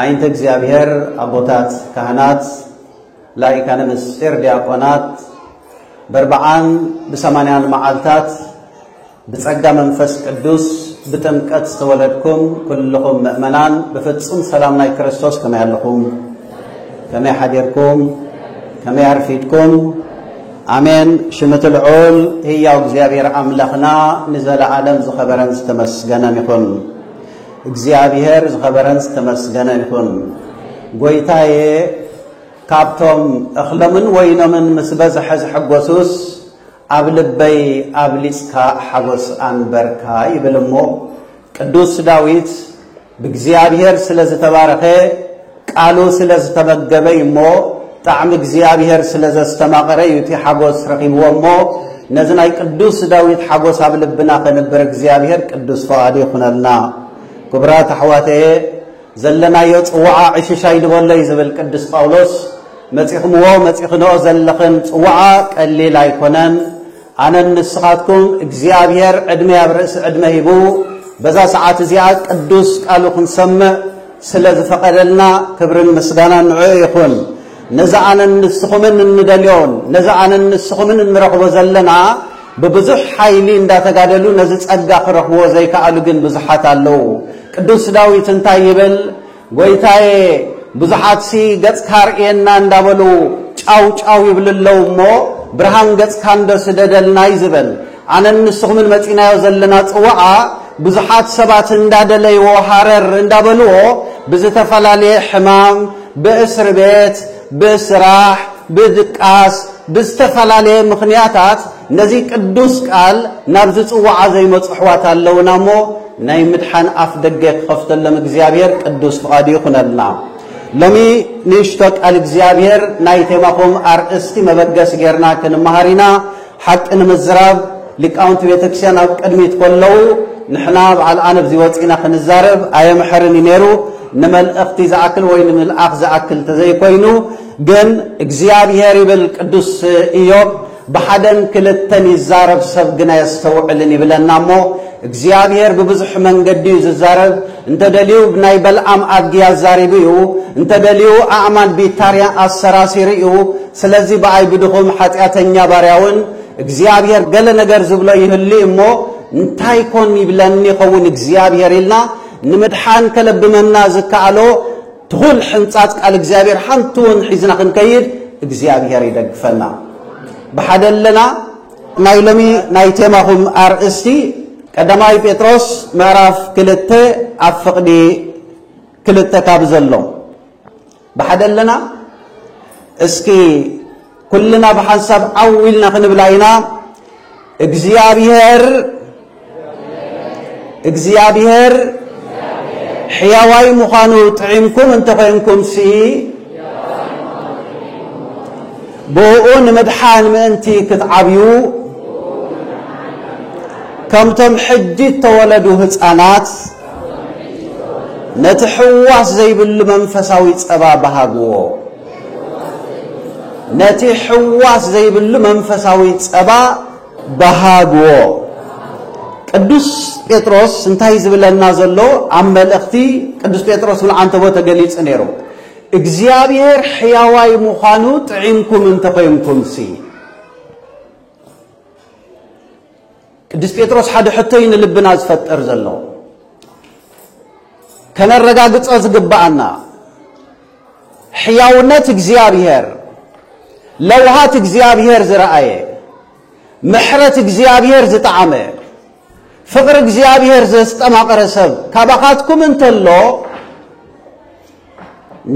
ኣይንተ እግዚኣብሔር ኣቦታት ካህናት ላይካነ ምስጢር ዲያቆናት በርብዓን ብሰማንያን መዓልታት ብጸጋ መንፈስ ቅዱስ ብጥምቀት ዝተወለድኩም ኩልኹም ምእመናን ብፍጹም ሰላም ናይ ክርስቶስ ከመይ ኣለኹም ከመይ ሓዲርኩም ከመይ ኣርፊድኩም ኣሜን ሽምቲ ልዑል ህያው እግዚኣብሔር ኣምላኽና ንዘለዓለም ዝኸበረን ዝተመስገነን ይኹን እግዚኣብሔር ዝኸበረን ዝተመስገነ ይኹን ጎይታየ ካብቶም እኽሎምን ወይኖምን ምስ በዝሐ ዝሐጎሱስ ኣብ ልበይ ኣብሊጽካ ሓጎስ ኣንበርካ ይብል እሞ ቅዱስ ዳዊት ብእግዚኣብሔር ስለ ዝተባረኸ ቃሉ ስለ ዝተመገበ እዩ እሞ፣ ጣዕሚ እግዚኣብሄር ስለ ዘስተማቐረ እዩ እቲ ሓጐስ ረኺብዎ እሞ፣ ነዚ ናይ ቅዱስ ዳዊት ሓጐስ ኣብ ልብና ከንብር እግዚኣብሄር ቅዱስ ፍቓዱ ይኹነልና። ክቡራት ኣሕዋተየ፣ ዘለናዮ ጽዋዓ ዕሽሽ ኣይንበሎ እዩ ዝብል ቅዱስ ጳውሎስ። መጺኹምዎ መጺኽንኦ ዘለኽን ጽዋዓ ቀሊል ኣይኮነን። ኣነን ንስኻትኩም እግዚኣብሔር ዕድመ ኣብ ርእሲ ዕድመ ሂቡ በዛ ሰዓት እዚኣ ቅዱስ ቃሉ ክንሰምዕ ስለ ዝፈቐደልና ክብርን ምስጋናን ንዕኡ ይኹን። ነዚ ኣነን ንስኹምን እንደልዮን ነዚ ኣነን ንስኹምን እንረኽቦ ዘለና ብብዙሕ ሓይሊ እንዳተጋደሉ ነዚ ጸጋ ክረኽብዎ ዘይከኣሉ ግን ብዙሓት ኣለዉ። ቅዱስ ዳዊት እንታይ ይብል? ጎይታየ ብዙሓትሲ ገጽካ ኣርእየና እንዳበሉ ጫው ጫው ይብሉ ኣለው እሞ ብርሃን ገጽካ እንዶ ስደደልና እዩ ዝበል። ኣነን ንስኹምን መጺናዮ ዘለና ጽዋዓ ብዙሓት ሰባት እንዳደለይዎ ሃረር እንዳበልዎ ብዝተፈላለየ ሕማም ብእስርቤት ብስራሕ ብድቃስ ብዝተፈላለየ ምኽንያታት ነዚ ቅዱስ ቃል ናብ ዝጽውዓ ዘይመጹ ኣሕዋት ኣለውና እሞ ናይ ምድሓን ኣፍ ደገ ክኸፍተሎም እግዚኣብሔር ቅዱስ ፍቓዱ ይኹነልና። ሎሚ ንእሽቶ ቃል እግዚኣብሔር ናይ ቴማኹም ኣርእስቲ መበገሲ ጌርና ክንመሃር ኢና። ሓቂ ንምዝራብ ሊቃውንቲ ቤተክርስቲያን ኣብ ቅድሚት ከለዉ ንሕና በዓል ኣነ ኣብዚ ወጺእና ክንዛረብ ኣየምሕርን እዩ ነይሩ ንመልእኽቲ ዝኣክል ወይ ንምልኣኽ ዝኣክል ተዘይኮይኑ ግን እግዚኣብሔር ይብል ቅዱስ ኢዮብ ብሓደን ክልተን ይዛረብ ሰብ ግን ኣየስተውዕልን ይብለና እሞ እግዚኣብሔር ብብዙሕ መንገዲ እዩ ዝዛረብ እንተደልዩ ብናይ በልኣም ኣድጊ ኣዛሪቡ እዩ እንተደልዩ ኣእማን ቢታርያ ኣሰራሲሩ እዩ ስለዚ ብኣይ ብድኹም ሓጢኣተኛ ባርያውን እግዚኣብሔር ገለ ነገር ዝብሎ ይህሉ እሞ እንታይ ኮን ይብለኒ ይኸውን እግዚኣብሔር ኢልና ንምድሓን ከለብመና ዝከኣሎ ትኹል ሕንጻጽ ቃል እግዚኣብሔር ሓንቲ ውን ሒዝና ክንከይድ እግዚኣብሔር ይደግፈና ብሓደ ኣለና ናይ ሎሚ ናይ ቴማኹም ኣርእስቲ ቀዳማይ ጴጥሮስ ምዕራፍ ክልተ ኣብ ፍቕዲ ክልተ ካብ ዘሎ ብሓደ ኣለና እስኪ ኩልና ብሓንሳብ ዓው ኢልና ክንብላ ኢና እግዚኣብሄር እግዚኣብሄር ሕያዋይ ምዃኑ ጥዒምኩም እንተኾይንኩምሲ ብእኡ ንምድሓን ምእንቲ ክትዓብዩ ከምቶም ሕጂ እተወለዱ ህፃናት ነቲ ሕዋስ ዘይብሉ መንፈሳዊ ጸባ በሃግዎ። ነቲ ሕዋስ ዘይብሉ መንፈሳዊ ጸባ በሃግዎ። ቅዱስ ጴጥሮስ እንታይ ዝብለና ዘሎ ኣብ መልእኽቲ ቅዱስ ጴጥሮስ ምልዓንተቦ ተገሊጹ ነይሩ። እግዚኣብሔር ሕያዋይ ምዃኑ ጥዒምኩም እንተኾይንኩምሲ ቅዱስ ጴጥሮስ ሓደ ሕቶ እዩ ንልብና ዝፈጥር ዘሎ ከነረጋግጾ ዝግባኣና ሕያውነት እግዚኣብሔር ለውሃት እግዚኣብሔር ዝረኣየ ምሕረት እግዚኣብሔር ዝጠዓመ ፍቕሪ እግዚኣብሔር ዘስጠማቐረ ሰብ ካባኻትኩም እንተሎ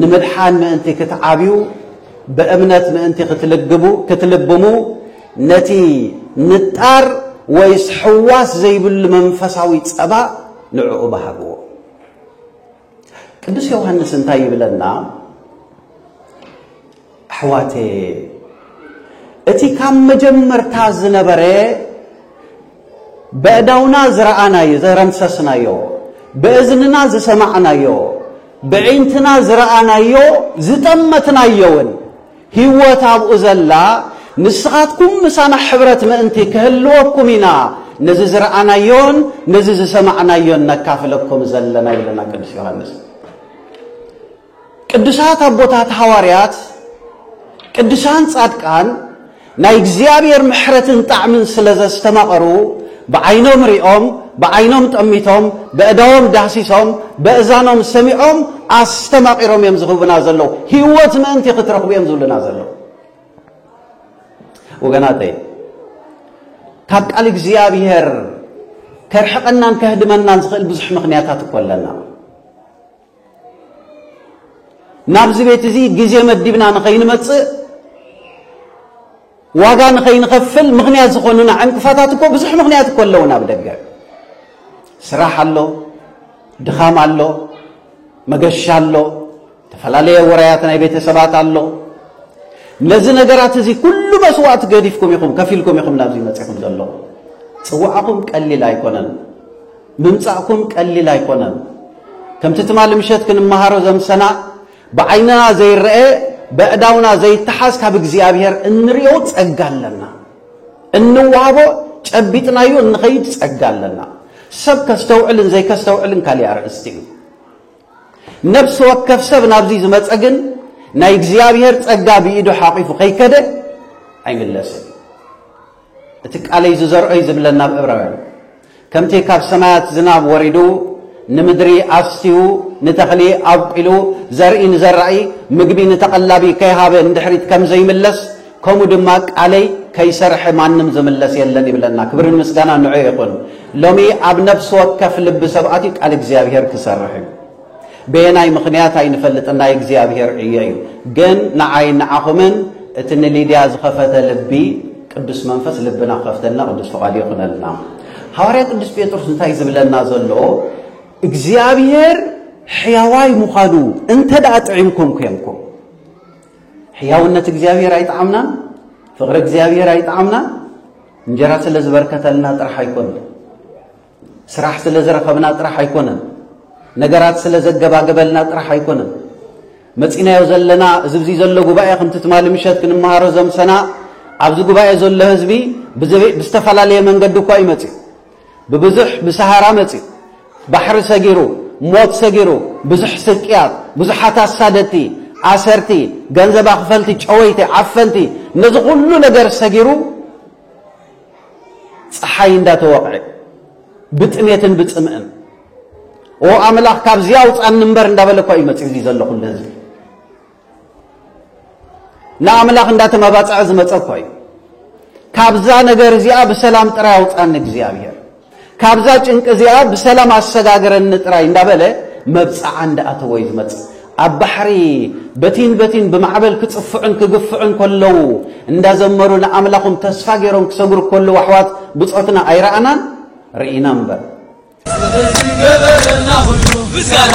ንምድሓን ምእንቲ ክትዓብዩ ብእምነት ምእንቲ ክትልግቡ ክትልብሙ ነቲ ንጣር ወይስ ሕዋስ ዘይብሉ መንፈሳዊ ጸባ ንዕኡ ባህግዎ። ቅዱስ ዮሐንስ እንታይ ይብለና? ኣሕዋተየ እቲ ካብ መጀመርታ ዝነበረ በእዳውና ዝረኣናዮ ዘረምሰስናዮ ብእዝንና ዝሰማዕናዮ ብዒንትና ዝረኣናዮ ዝጠመትናዮውን ህይወት ኣብኡ ዘላ ንስኻትኩም ምሳና ሕብረት ምእንቲ ክህልወኩም ኢና ነዚ ዝረኣናዮን ነዚ ዝሰማዕናዮን ነካፍለኩም ዘለና ኢለና ቅዱስ ዮሃንስ ቅዱሳት ኣቦታት ሃዋርያት፣ ቅዱሳን ጻድቃን ናይ እግዚኣብሔር ምሕረትን ጣዕምን ስለ ዘስተማቐሩ ብዓይኖም ሪኦም፣ ብዓይኖም ጠሚቶም፣ በእዳዎም ዳህሲሶም፣ በእዛኖም ሰሚዖም ኣስተማቒሮም እዮም ዝህቡና ዘለዉ። ህይወት ምእንቲ ክትረኽቡ እዮም ዝብሉና ዘለዉ። ወገናተይ ካብ ቃል እግዚኣብሔር ከርሕቐናን ከህድመናን ዝኽእል ብዙሕ ምኽንያታት እኮ ኣለና። ናብዚ ቤት እዚ ግዜ መዲብና ንኸይንመጽእ ዋጋ ንኸይንኸፍል ምኽንያት ዝኾኑና ዕንቅፋታት እኮ ብዙሕ ምኽንያት እኮ ኣለውን ኣብ ደገ ስራሕ ኣሎ ድኻም ኣሎ መገሻ ኣሎ ተፈላለየ ወራያት ናይ ቤተሰባት ኣሎ ነዚ ነገራት እዚ ኩሉ መስዋእቲ ገዲፍኩም ኢኹም ከፊልኩም ኢኹም ናብዚ መፂኹም ዘለኹም ፅዋዕኹም ቀሊል ኣይኮነን ምምጻእኩም ቀሊል ኣይኮነን። ከምቲ ትማሊ ምሸት ክንመሃሮ ዘምሰና ብዓይንና ዘይረኤ በእዳውና ዘይተሓዝ ካብ እግዚኣብሔር እንሪኦ ጸጋ ኣለና። እንዋሃቦ ጨቢጥናዮ እንኸይድ ጸጋ ኣለና። ሰብ ከስተውዕልን ዘይከስተውዕልን ካሊእ ኣርእስቲ እዩ። ነፍሲ ወከፍ ሰብ ናብዚ ዝመፀ ግን ናይ እግዚኣብሔር ጸጋ ብኢዱ ሓቂፉ ከይከደ ኣይምለስን። እቲ ቃለይ ዝዘርኦ'ዩ ዝብለን ናብ እብራውያን። ከምቲ ካብ ሰማያት ዝናብ ወሪዱ ንምድሪ ኣስትዩ ንተኽሊ ኣብቊሉ ዘርኢ ንዘራኢ ምግቢ ንተቐላቢ ከይሃበ ንድሕሪት ከም ዘይምለስ ከምኡ ድማ ቃለይ ከይሰርሐ ማንም ዝምለስ የለን ይብለና። ክብርን ምስጋና ንዑ ይኹን። ሎሚ ኣብ ነፍሲ ወከፍ ልቢ ሰብ ኣትዩ ቃል እግዚኣብሔር ክሰርሕ እዩ። በየናይ ምኽንያት ኣይንፈልጥን ናይ እግዚኣብሔር ዕዮ እዩ ግን ንዓይን ንዓኹምን እቲ ንሊድያ ዝኸፈተ ልቢ ቅዱስ መንፈስ ልብና ክኸፍተልና ቅዱስ ፍቓዱ ይኹነልና ሃዋርያ ቅዱስ ጴጥሮስ እንታይ ዝብለና ዘሎ እግዚኣብሔር ሕያዋይ ምዃኑ እንተ ደኣ ጥዒምኩም ኮንኩም ሕያውነት እግዚኣብሔር ኣይጠዓምናን ፍቕሪ እግዚኣብሔር ኣይጠዓምናን እንጀራ ስለ ዝበርከተልና ጥራሕ ኣይኮን ስራሕ ስለ ዝረኸብና ጥራሕ ኣይኮነን፣ ነገራት ስለ ዘገባገበልና ጥራሕ ኣይኮነን፣ መጺናዮ ዘለና እዚ ብዚ ዘሎ ጉባኤ ከምቲ ትማሊ ምሸት ክንመሃሮ ዘምሰና ኣብዚ ጉባኤ ዘሎ ህዝቢ ብዝተፈላለየ መንገዲ እኳ እዩ መጺኡ ብብዙሕ ብሰሃራ መጺኡ ባሕሪ ሰጊሩ ሞት ሰጊሩ ብዙሕ ስቅያት ብዙሓት ኣሳደቲ ኣሰርቲ ገንዘብ ኣኽፈልቲ ጨወይቲ ዓፈንቲ ነዚ ኩሉ ነገር ሰጊሩ ፀሓይ እንዳተወቕዐ ብጥሜትን ብፅምእን ኦ ኣምላኽ ካብዚ ኣውፃኒ እምበር እንዳበለ እኳ እዩ መፂኡ ዘሎ ኩሉ ህዝቢ ንኣምላኽ እንዳተመባፀዐ ዝመፀ እኳ እዩ ካብዛ ነገር እዚኣ ብሰላም ጥራይ ኣውፃኒ እግዚኣብሔር ካብዛ ጭንቂ እዚኣ ብሰላም ኣሰጋግረኒ ጥራይ እንዳበለ መብጽዓ እንዳኣተወዩ ዝመጽእ። ኣብ ባሕሪ በቲን በቲን ብማዕበል ክጽፍዑን ክግፍዑን ከለዉ እንዳዘመሩ ንኣምላኹም ተስፋ ገይሮም ክሰግሩ ከለዉ ኣሕዋት ብጾትና ኣይረኣናን ርኢና እምበር ምስጋና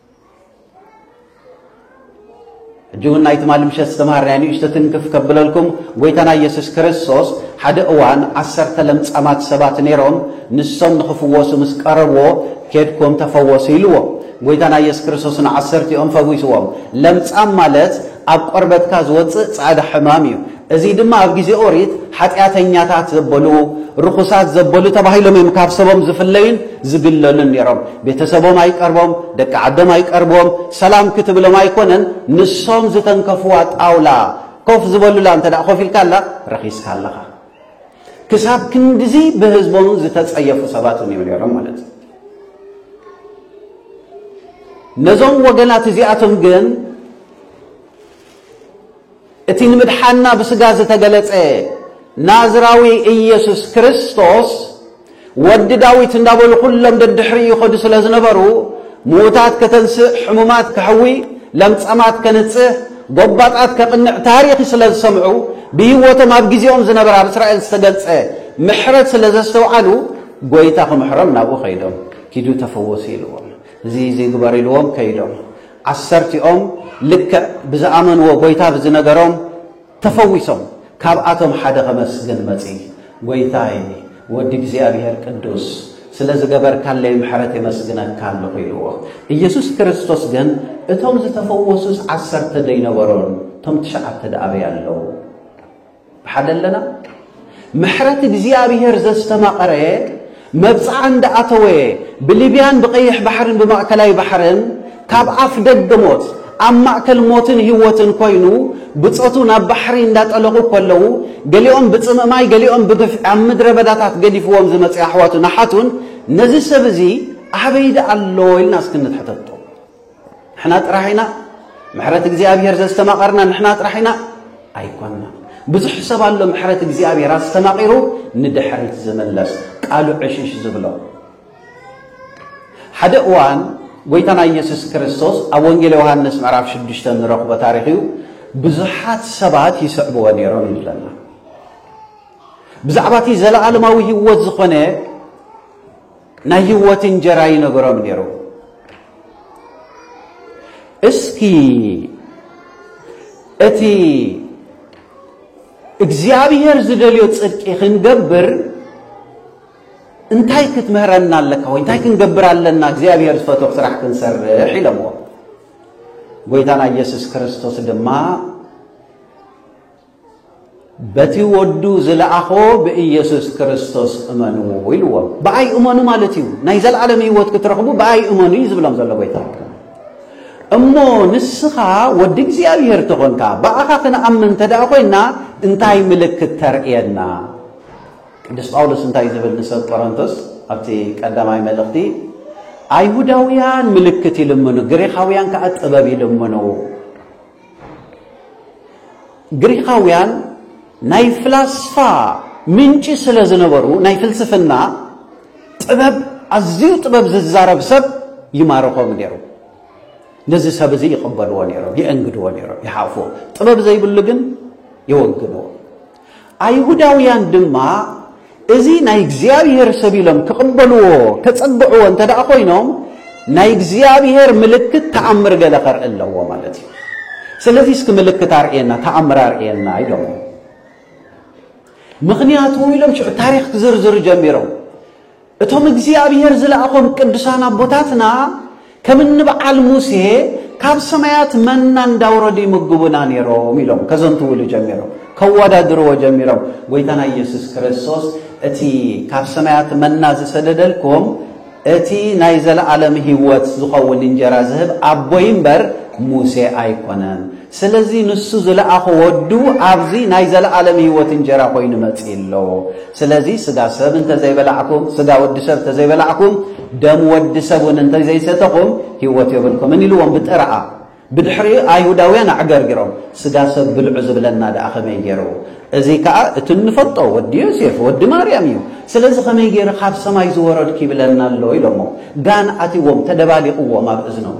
ሕጂ እውን ናይ ትማሊ ምሸት ዝተምሃርናዮ ንእሽቶ ትንክፍ ከብለልኩም ጎይታና ኢየሱስ ክርስቶስ ሓደ እዋን ዓሰርተ ለምጻማት ሰባት ነይሮም ንሶም ንኽፍወሱ ምስ ቀረብዎ ኬድኩም ተፈወሱ ኢልዎ ጎይታና ኢየሱስ ክርስቶስ ንዓሰርቲኦም ፈዊስዎም ለምጻም ማለት ኣብ ቆርበትካ ዝወጽእ ጻዕዳ ሕማም እዩ እዚ ድማ ኣብ ግዜ ኦሪት ሓጢኣተኛታት ዘበሉ፣ ርኹሳት ዘበሉ ተባሂሎም እዮም ካብ ሰቦም ዝፍለዩን ዝግለሉን ነይሮም። ቤተሰቦም ኣይቀርቦም፣ ደቂ ዓዶም ኣይቀርብዎም፣ ሰላም ክትብሎም ኣይኮነን ንሶም ዝተንከፍዋ ጣውላ ኮፍ ዝበሉላ እንተ ኮፍ ኢልካ ኣላ ረኺስካ ኣለኻ። ክሳብ ክንድዚ ብህዝቦም ዝተጸየፉ ሰባት እዮም ነይሮም ማለት እዩ። ነዞም ወገናት እዚኣቶም ግን እቲ ንምድሓንና ብስጋ ዝተገለጸ ናዝራዊ ኢየሱስ ክርስቶስ ወዲ ዳዊት እንዳበሉ ኩሎም ደድሕሪ ይኸዱ ስለ ዝነበሩ ምዉታት ከተንስእ፣ ሕሙማት ከሕዊ፣ ለምጸማት ከንጽህ፣ ጎባጣት ከቕንዕ ታሪኽ ስለ ዝሰምዑ ብህይወቶም ኣብ ግዜኦም ዝነበረ ኣብ እስራኤል ዝተገልጸ ምሕረት ስለ ዘስተውዓሉ ጐይታ ክምሕሮም ናብኡ ከይዶም ኪዱ ተፈወሱ ኢልዎም። እዚ ዝይግበር ኢልዎም ከይዶም ዓሰርቲኦም ልክዕ ብዝኣመንዎ ጎይታ ብዝነገሮም ተፈዊሶም ካብኣቶም ሓደ ከመስግን መጺ ጎይታይ ወዲ እግዚኣብሔር ቅዱስ ስለ ዝገበርካለይ ምሕረት የመስግነካ ኣለኹ ኢልዎ ኢየሱስ ክርስቶስ ግን እቶም ዝተፈወሱስ ዓሰርተ ደይነበሮን እቶም ትሽዓተ ደኣበይ ኣለዉ ብሓደ ኣለና ምሕረት እግዚኣብሔር ዘስተማቐረ መብጽዓ እንዳኣተወ ብሊብያን ብቀይሕ ባሕርን ብማእከላይ ባሕርን ካብ ኣፍ ደገ ሞት ኣብ ማእከል ሞትን ህይወትን ኮይኑ ብጾቱ ናብ ባሕሪ እንዳጠለቑ ከለዉ ገሊኦም ብጽምእ ማይ ገሊኦም ብግፍዒ ኣብ ምድረ በዳታት ገዲፍዎም ዝመጽ ኣሕዋቱን ኣሓቱን ነዚ ሰብ እዚ ኣበይ ደኣ ኣሎ ኢልና እስኪ ንትሕተቶ ንሕና ጥራሕ ኢና ምሕረት እግዚኣብሔር ዘስተማቐርና ንሕና ጥራሕ ኢና ኣይኮንና ብዙሕ ሰብ ኣሎ ምሕረት እግዚኣብሔር ኣስተማቒሩ ንድሕሪት ዝምለስ ቃሉ ዕሽሽ ዝብሎ ሓደ እዋን ጎይታና ኢየሱስ ክርስቶስ ኣብ ወንጌል ዮሃንስ ምዕራፍ ሽዱሽተ ንረኽቦ ታሪኽ እዩ ብዙሓት ሰባት ይስዕብዎ ነይሮም ይብለና ብዛዕባ እቲ ዘለኣለማዊ ህይወት ዝኾነ ናይ ህይወት እንጀራ ይነገሮም ነይሩ። እስኪ እቲ እግዚኣብሔር ዝደልዮ ጽድቂ ክንገብር እንታይ ክትምህረና ኣለካ ወይ እንታይ ክንገብር ኣለና እግዚኣብሔር ዝፈትዎ ስራሕ ክንሰርሕ ኢለምዎ ጎይታና ኢየሱስ ክርስቶስ ድማ በቲ ወዱ ዝለኣኾ ብኢየሱስ ክርስቶስ እመኑ ኢልዎም። ብኣይ እመኑ ማለት እዩ። ናይ ዘለዓለም ህይወት ክትረኽቡ ብኣይ እመኑ እዩ ዝብሎም ዘሎ ጎይታ። እሞ ንስኻ ወዲ እግዚኣብሔር ተኾንካ ብኣኻ ክንኣምን እንተ ደኣ ኮይና እንታይ ምልክት ተርእየና? ቅዱስ ጳውሎስ እንታይ ዝብል ንሰብ ቆሮንቶስ ኣብቲ ቀዳማይ መልእኽቲ ኣይሁዳውያን ምልክት ይልምኑ፣ ግሪኻውያን ከዓ ጥበብ ይልምኑ ግሪኻውያን ናይ ፍላስፋ ምንጪ ስለ ዝነበሩ ናይ ፍልስፍና ጥበብ ኣዝዩ ጥበብ ዝዛረብ ሰብ ይማርኾም ነይሩ። ነዚ ሰብ እዚ ይቕበልዎ ነይሮም፣ የእንግድዎ ነይሮም፣ ይሓፍዎ። ጥበብ ዘይብሉ ግን የወግንዎ። ኣይሁዳውያን ድማ እዚ ናይ እግዚኣብሔር ሰብ ኢሎም ክቕበልዎ ከጸግዕዎ እንተ ደኣ ኮይኖም ናይ እግዚኣብሔር ምልክት ተኣምር ገለ ከርኢ ኣለዎ ማለት እዩ ስለዚ እስኪ ምልክት ኣርእየና ተኣምር ኣርእየና ኢሎም ምኽንያቱ ኢሎም ሽዑ ታሪክ ክዝርዝሩ ጀሚሮም እቶም እግዚኣብሔር ዝለኣኾም ቅዱሳን ኣቦታትና ከም እንበዓል ሙሴ ካብ ሰማያት መና እንዳውረዱ ይምግቡና ነይሮም ኢሎም ከዘንትውሉ ጀሚሮም ከወዳድርዎ ጀሚሮም ጎይታና ኢየሱስ ክርስቶስ እቲ ካብ ሰማያት መና ዝሰደደልኩም እቲ ናይ ዘለዓለም ህይወት ዝኸውን እንጀራ ዝህብ ኣቦይ እምበር ሙሴ ኣይኮነን ስለዚ ንሱ ዝለኣኾ ወዱ ኣብዚ ናይ ዘለኣለም ህይወት እንጀራ ኮይኑ መጺኡ ኣሎ። ስለዚ ስጋ ሰብ እንተ ዘይበላዕኩም፣ ስጋ ወዲ ሰብ እንተ ዘይበላዕኩም፣ ደም ወዲ ሰብ እውን እንተ ዘይሰተኹም ህይወት የብልኩምን ኢልዎም ብጥርኣ። ብድሕሪኡ ኣይሁዳውያን ኣዕገርጊሮም ስጋ ሰብ ብልዑ ዝብለና ደኣ ከመይ ገይሩ? እዚ ከኣ እቲ እንፈልጦ ወዲ ዮሴፍ ወዲ ማርያም እዩ። ስለዚ ከመይ ገይሩ ካብ ሰማይ ዝወረድኩ ይብለና ኣሎ ኢሎሞ ጋን ኣትዎም ተደባሊቕዎም ኣብ እዝኖም።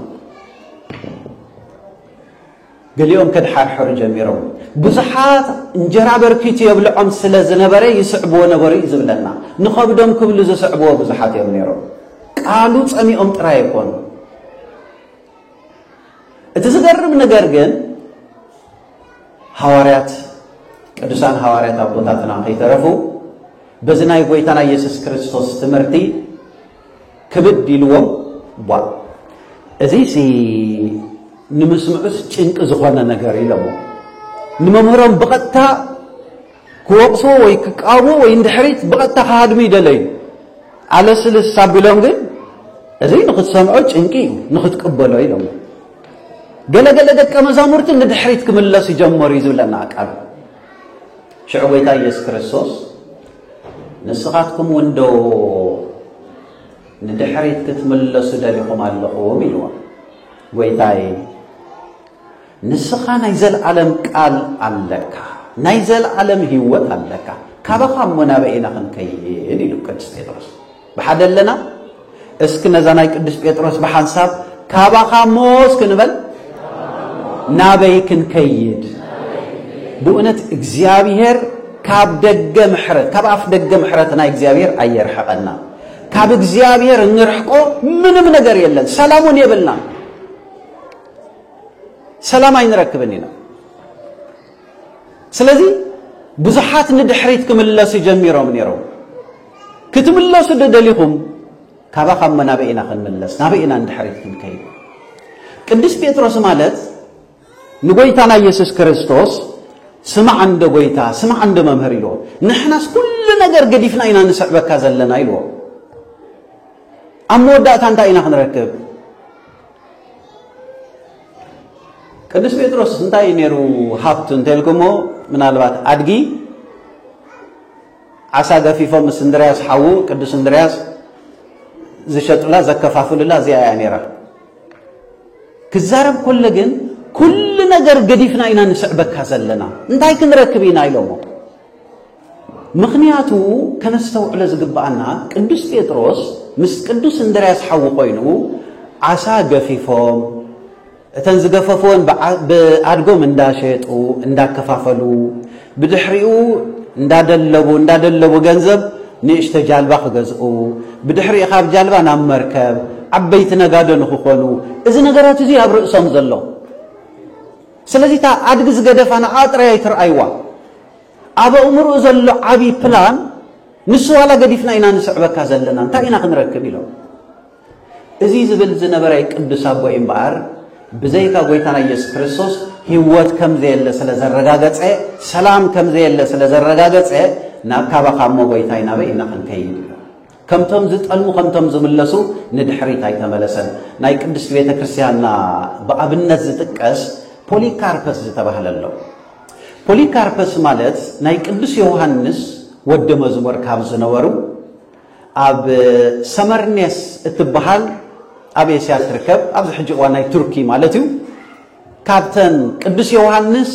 ገሊኦም ከድሓርሐሩ ጀሚሮም ብዙሓት እንጀራ በርኪቱ የብልዖም ስለ ዝነበረ ይስዕብዎ ነበሩ እዩ ዝብለና። ንኸብዶም ክብሉ ዝስዕብዎ ብዙሓት እዮም ነይሮም። ቃሉ ጸሚኦም ጥራይ ኣይኮኑ። እቲ ዝገርም ነገር ግን ሃዋርያት ቅዱሳን ሃዋርያት ኣቦታትና ከይተረፉ በዚ ናይ ጎይታና ኢየሱስ ክርስቶስ ትምህርቲ ክብድ ኢልዎም ቧእ እዚሲ ንምስምዑስ ጭንቂ ዝኾነ ነገር ኢሎሞ ንመምህሮም ብቐጥታ ክወቕስዎ ወይ ክቃወምዎ ወይ እንድሕሪት ብቐጥታ ክሃድሙ ይደለዩ ኣለስልስ ኣቢሎም ግን እዚ ንኽትሰምዖ ጭንቂ እዩ ንኽትቅበሎ ኢሎሞ ገለገለ ደቀ መዛሙርቲ ንድሕሪት ክምለሱ ጀመሩ እዩ ዝብለና ቃል ሽዑ ጎይታ ኢየሱስ ክርስቶስ ንስኻትኩም እውን ዶ ንድሕሪት ክትምለሱ ደሊኹም ኣለኹም ኢልዎም። ጐይታዬ ንስኻ ናይ ዘለዓለም ቃል ኣለካ፣ ናይ ዘለዓለም ህይወት ኣለካ፣ ካባኻ እሞ ናበይ ኢና ክንከይድ ኢሉ ቅዱስ ጴጥሮስ ብሓደ ኣለና እስኪ ነዛ ናይ ቅዱስ ጴጥሮስ ብሓንሳብ ካባኻ እሞ እስኪ ንበል ናበይ ክንከይድ ብእውነት እግዚኣብሔር ካብ ደገ ምሕረት ካብ ኣፍ ደገ ምሕረት ናይ እግዚኣብሔር ኣየርሕቐና ካብ እግዚኣብሔር እንርሕቆ ምንም ነገር የለን ሰላሙን የብልና ሰላም ኣይንረክብን ኢና ስለዚ ብዙሓት ንድሕሪት ክምለሱ ጀሚሮም ነይሮም። ክትምለሱ ዶ ደሊኹም? ካባኻ እሞ ናበይ ኢና ክንምለስ? ናበይ ኢና ንድሕሪት ክንከይድ? ቅዱስ ጴጥሮስ ማለት ንጎይታና ኢየሱስ ክርስቶስ ስማዕ እንዶ ጎይታ ስማዕ እንዶ መምህር ኢልዎ። ንሕናስ ኩሉ ነገር ገዲፍና ኢና ንስዕበካ ዘለና ኢልዎ። ኣብ መወዳእታ እንታይ ኢና ክንረክብ? ቅዱስ ጴጥሮስ እንታይ እዩ ነይሩ ሃብቱ እንተልኩሞ ምናልባት ኣድጊ ዓሳ ገፊፎም ምስ እንድርያስ ሓዉ ቅዱስ እንድርያስ ዝሸጡላ ዘከፋፍሉላ እዚኣ እያ ነይራ ክዛረብ ኮለ ግን ኩሉ ነገር ገዲፍና ኢና ንስዕበካ ዘለና እንታይ ክንረክብ ኢና ኢሎሞ ምኽንያቱ ከነስተውዕሎ ዝግብኣና ቅዱስ ጴጥሮስ ምስ ቅዱስ እንድርያስ ሓዊ ኮይኑ ዓሳ ገፊፎም እተን ዝገፈፍወን ብኣድጎም እንዳሸጡ እንዳከፋፈሉ ብድሕሪኡ እንዳደለቡ እንዳደለቡ ገንዘብ ንእሽተ ጃልባ ክገዝኡ ብድሕሪኡ ካብ ጃልባ ናብ መርከብ ዓበይቲ ነጋዶ ንክኾኑ እዚ ነገራት እዚ ኣብ ርእሶም ዘሎ ስለዚ እታ ኣድጊ ዝገደፋ ንዓ ጥራይ ኣይትርኣይዋ ኣብ ኣእምርኡ ዘሎ ዓቢ ፕላን ንሱ ዋላ ገዲፍና ኢና ንስዕበካ ዘለና እንታይ ኢና ክንረክብ ኢሎም እዚ ዝብል ዝነበረ ቅዱስ ኣቦ እምበኣር ብዘይካ ጎይታና ኢየሱስ ክርስቶስ ህይወት ከም ዘየለ ስለ ዘረጋገጸ ሰላም ከም ዘየለ ስለ ዘረጋገጸ ናብ ካባኻ እሞ ጎይታይ ናበይ ኢና ክንከይድ ከምቶም ዝጠልሙ ከምቶም ዝምለሱ ንድሕሪት ኣይተመለሰን። ናይ ቅድስቲ ቤተ ክርስቲያንና ብኣብነት ዝጥቀስ ፖሊካርፐስ ዝተባህለ ኣሎ። ፖሊካርፐስ ማለት ናይ ቅዱስ ዮሃንስ ወዲ መዝሙር ካብ ዝነበሩ ኣብ ሰመርኔስ እትበሃል ኣብ ኤስያ ትርከብ ኣብዚ ሕጂ እዋን ናይ ቱርኪ ማለት እዩ ካብተን ቅዱስ ዮውሃንስ